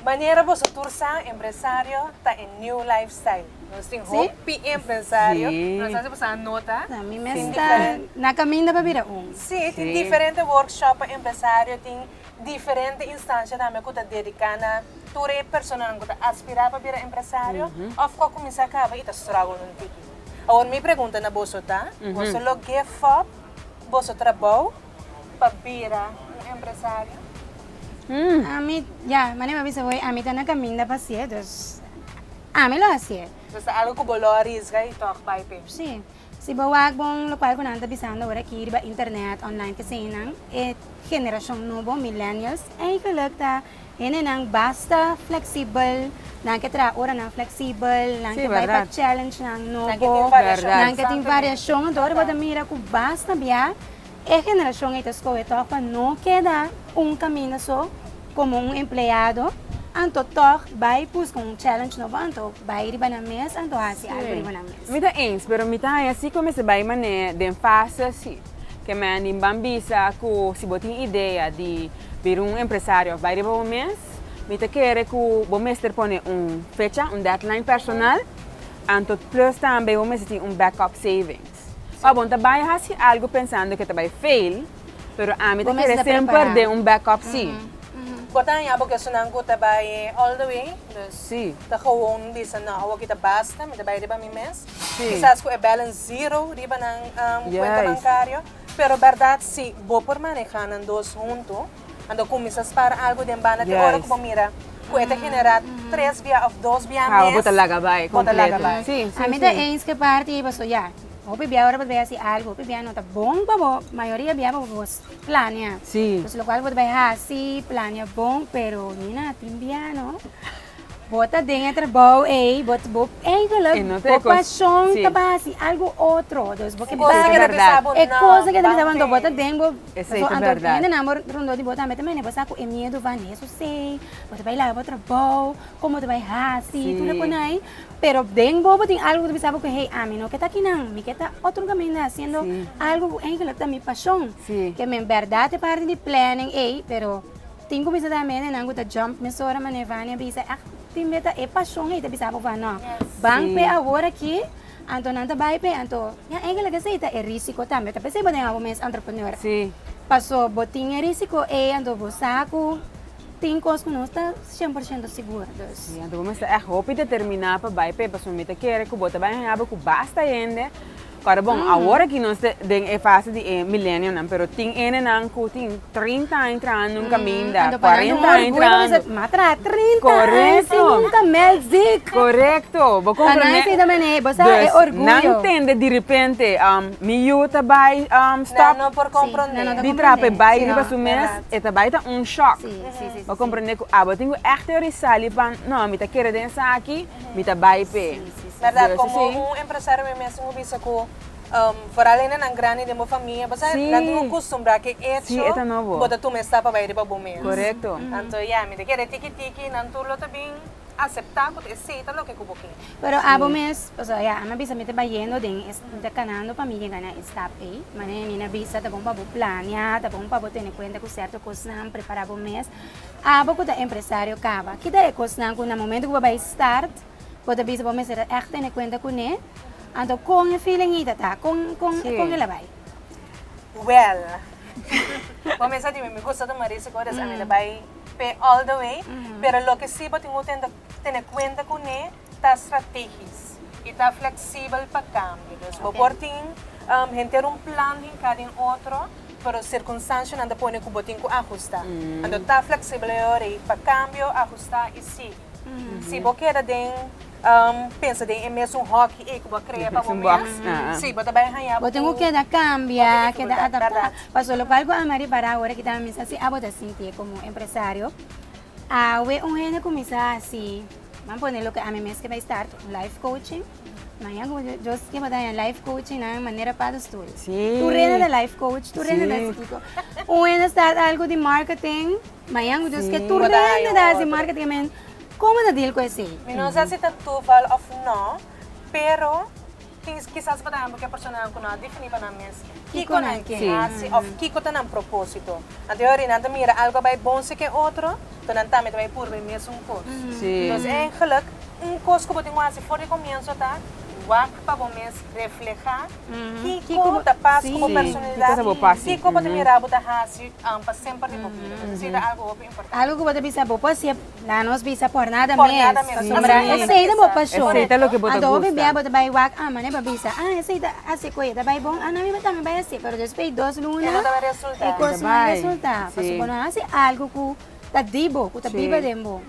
Manera boso tur sa, empresario ta e new lifestyle. Nos tin hopi empresario, nos hasi boso a nota. Na mi mes ta na kaminda pa bira un. Sí, tin diferente workshop pa empresario, tin. Diferente instancia tambe cu ta dedica na tur e personanan cu ta aspira pa bira empresario of cu a cuminsa caba y ta struggle un tiki. Awor mi pregunta na boso ta, boso lo give up boso trabao pa bira un empresario? Ami, ya, manera bo a bisa hoy, ami ta na caminda pa haci'e, dus ami lo haci'e. Dus ta algo cu bo lo arisga y toch bay p'e? Sí. Si bo wak bon lokual ku nan ta bisando ora aki riba internet, online kesenan, e generashon nobo, millennials, eigenlik ta henenan basta fleksibel, nan ke traha oranan fleksibel, nan ke bai pa challenge nan nobo, nan ke tin variashon, anto ora bo ta mira ku basta bia. E generashon ei ta skohe tòg pa no keda un kaminda so komo un empleado, anto tòg bai buska un challenge nobo, anto bai riba nan mes, anto hasi algu riba nan mes. Mi ta eens, pero mi ta haña si ku mester bai manera den fase si. Kemey anima ban bisa ku si bo tin idea di bira un empresario òf bai riba bo mes, mi ta kere ku bo mester pone un fecha, un deadline personal, anto plus tambe bo mester tin un backup savings. Pa bon ta bai haci algo pensando que ta bai fail, pero ami ta kere semper den un backup si. Bo ta haña bo kesonan cu ta bai all the way, dus ta gewoon bisa no, awo aki ta basta, mi ta bai riba mi mes, kisas cu e balance zero riba nan cuenta bancario, pero berdad si bo por maneha nan dos hunto. Ando kuminsá spara algu den banda te ora ku bo mira ku e ta generá tres bia òf dos bia mes. Awa bo ta laga bai kompleto. Bo ta laga bai. Sí, sí. Ami ta eens ku e parti ei pasobra ya, hopi bia ora bo ta bai hasi algu, hopi bia no ta bon pa bo, mayoria bia pa bo planea. Sí. Entonces lokual ku bo ta bai hasi, planea bon, pero nina tin bia no. Bo ta den e trabou ey, bo ta, bo eigenlijk, bo pasion ta bay hasi algo otro, dus bo ke bay hasi e cosa ke ta bisa bo anto bo ta den bo, pasobra anto hende nan rondó di bo tambe ta mene bo sa ku e miedu van di esun sey, bo ta bay laga bo trabou, kon bo ta bay hasi, tur e konai ey, pero den bobo tin algo ku ta bisa bo ku hey ami no ke ta akinan, mi ke ta otro kaminda hasiendo algo ku eigenlijk ta mi pasion, ke men bèrdat e parti di planning ey, pero. Tin ku bisa ta mene nan ku ta jump mesora mane Vania bisa ect tin beta e pashon ei ta bisa bo van nao ban pe awor aki anto nan ta bai pe anto ya engelek esei ta e risiko tambe ta p'esei bo den abo mes entrepreneur paso bo tin e risiko ei anto bo sa ku tin kos ku nos ta shen por shento sigur dus si anto bo mester ect hopi determina pa bai p'e paso mi ta kere ku bo ta bai haña bo ku basta hende. Para bon, awor aki nos ta den e fase di e milenionan, pero tin enenan ku tin trinta aña trahando un kaminda, kuarenta aña trahando. Korekto! Korekto! Bo komprende? Nan tende direpente mi yu ta bai stòp di traha pa e bai riba su mes, e ta bai ta un shòk. Bo komprende ku abo tin ku èkte ori sali pan, no, mi ta kere den esaki, mi ta bai p'e. Berdad, como un empresario mi mes hopi bisa cu vooral hende nan grandi den bo famia, bo sa nan tin cu custumbrá cu e hecho cu bo ta tuma e stap pa bai riba bo mes. Anto ya, mi ta kere tiki tiki, nan tur lo ta bin aceptá cu ta e seta loke cu bo ke. Pero abo mes, pasobra ya a mi a bisa mi ta bayendo den, mi ta canando pa mi yega na e stap ei. Manera mi a bisa ta bon pa bo planea, ta bon pa bo tene cuenta cu cierto cosnan, prepará bo mes. Abo cu ta empresario caba, ki ta e cosnan cu na momento cu bo a bai start, Bo ta bisa bo mester a ègt tene kuenta kuné. Anto kon e feeling ei ta ta? Kon, kon, kon el a bai? Wèl, bo mester a timi mi gusto ta Mauricio Codes, a mira bai p'e all the way, pero loke si bo tin ku tenta tene kuenta kuné ta strategis i ta fleksibel pa kambio. Dus bo por tin henter un plan den kada un otro, pero sirkunstansianan ta pone ku bo tin ku ahusta. Anto ta fleksibel e ora ei pa kambio, ahusta i sigui. Si bo keda den pensa den e mesun hoki ei ku bo a krea pa bo mes, si bo ta bai haña bo tin ku dificultat, bèrdat. Pasobra lokal ku Amari para ahora kita mi sa si abo ta sintié komo un empresario, awe un hende kuminsá hasi, nan pone loke ami mes ke bai start un life coaching, maña ku just ke bo ta haña life coaching nan manera pa dus tur. Tur hende ta life coach, tur hende ta instituto. Un hende start algu di marketing. Mañan cu Dios ke tur rende ta haci marca tin men como ta deal cu esey. Mi no sa si ta toeval of no pero tin kisas por ehemplo ke personanan cu no a defini pa nan mes kico nan ke haci of kico ta nan proposito anto yo ri nan ta mira algo a bay bon si ke otro enton nan tambe ta bay purba e mesun cos entonces e geluk un cos cu bo tin cu haci for di comienzo ta wak. pa bo mes reflehá kiko bo ta pas ku bo personalidat, kiko bo ta mira bo ta hasi pa semper di bo bida. Pues esei ta algu hopi importante. Algu ku bo ta bisa bo por hasié, nan nos bisa por nada mes. Pasobra esei ta bo pashon. Anto hopi bia bo ta bai wak ama nan e por bisa, ah esei ta hasi koe, ta bai bon, ah nan mi tambe bai hasi. Pero despui dos luna e kos no a resultá pasobra bo no a hasi algu ku ta di bo, ku ta biba den bo.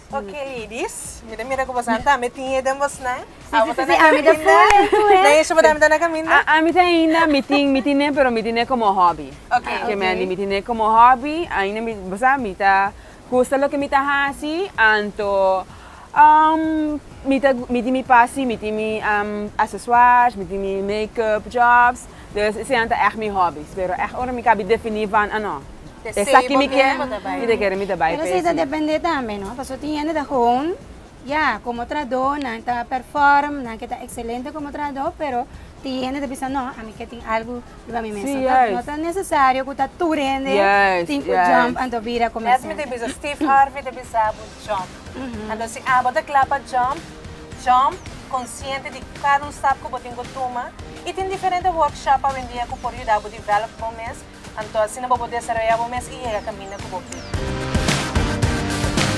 Ok ladies, mi ta mira ku bosonan tambe tin e den bosnan. Abo ta na kaminda. Den e show tambe ta na kaminda. Ami ta ainda mi tin mi tin e pero mi tin e komo hobby. Ok. Ke mi a di mi tin e komo hobby ainda mi bo sa mi ta gusta loke mi ta hasi anto mi ta mi tin mi pasi mi tin mi asesuars mi tin mi makeup jobs. Dus eseinan ta ègt mi hòbis. Pero ègt ora mi kabi definí van anò, esaki mi ke, mi ta kere mi ta bai pa esei. Pero esei ta dependé tambe no, pasobra tin hende ta gewoon ya komo trahadó, nan ta perform, nan ke ta ekselente komo trahadó, pero tin hende ta bisa nò, ami ke tin algu riba mi mes. Sí, yes. No ta nesesario ku ta tur hende tin ku jump anto bira komersante. Yes, mi ta bisa Steve Harvey ta bisa. Jump. Anto si abo ta kla pa jump, jump, konsiente di kada un stap ku bo tin ku tuma i tin diferente workshop awendia ku por yuda bo develop bo mes, anto asina bo por desarroya bo mes i yega kaminda ku bo bil.